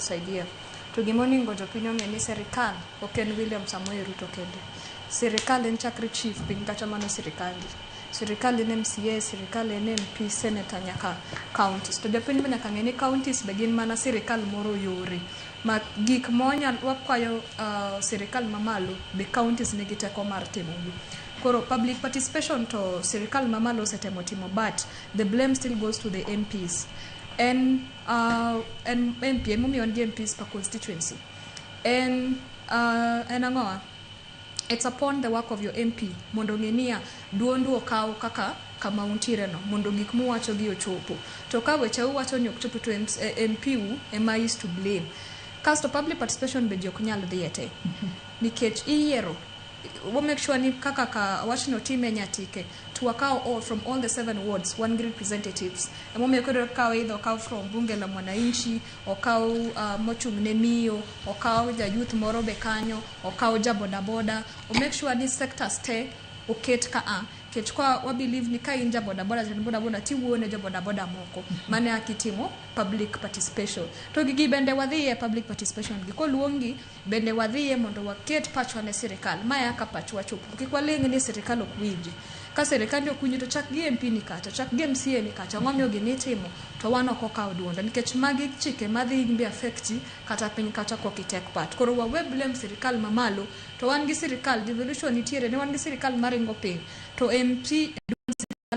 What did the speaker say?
saidia. To gima oningo jopiny ong'e ni serikal ok en William Samoei Ruto kende. Serikal en chakre chief piny kata mano sirikandi. Sirikal en MCA, sirikal en MP, senator nyaka counties. To jopiny be nyaka ng'e ni counties be gin mana sirikal moro yore. Ma gik monyal wakwayo uh, sirikal mamalo be counties nigi teko mar timogi. Koro public participation to sirikal mamalo osetemo timo but the blame still goes to the MPs. En Uh, en MP, emomiyo en gi MPs per constituency. En, uh, en ang'owa? It's upon the work of your MP mondo ng'e niya duondu okaw kaka kama untiere no mondo gik muwacho gi ochopo. To ka weche uwacho ni ok chopo to en, eh, MP u ema is to blame. Kasto public participation be ji ok nyal dhiye te. Nikech iyiero wa make sure ni kaka ka wachno time nyatike to wakawo all from all the seven wards wan gi representatives emomiyo koro kawo idho okaw from bunge la mwananchi okaw uh, mochung' ne miyo okaw ja youth moro be kanyo okaw ja bodaboda o make sure ni sectors te oket ka a kech kwa wa believe ni ka in ja bodaboda jatend bodaboda tiwuoyo ne jo bodaboda moko mane akitimo public participation to gigi bende wadhi e public participation gi koluongi Bende wadhiye mondo waket pachwa ne sirikal. Mae aka pachwa chopgo. Kik waling' ni sirikal ok winji. Ka sirikandi ok winji to chak gi MP ni kacha, chak gi MCA ni kacha. Ang'o momiyo gini itimo? To wan ok okaw duonde. Nikech magi chike madhi inbe affect-i kata piny kacha kok i take part. Koro wawe blame sirikal ma malo. To wan gi sirikal, devolution nitiere. Ne wan gi sirikal maringo piny. To MP e duond sirikal ma.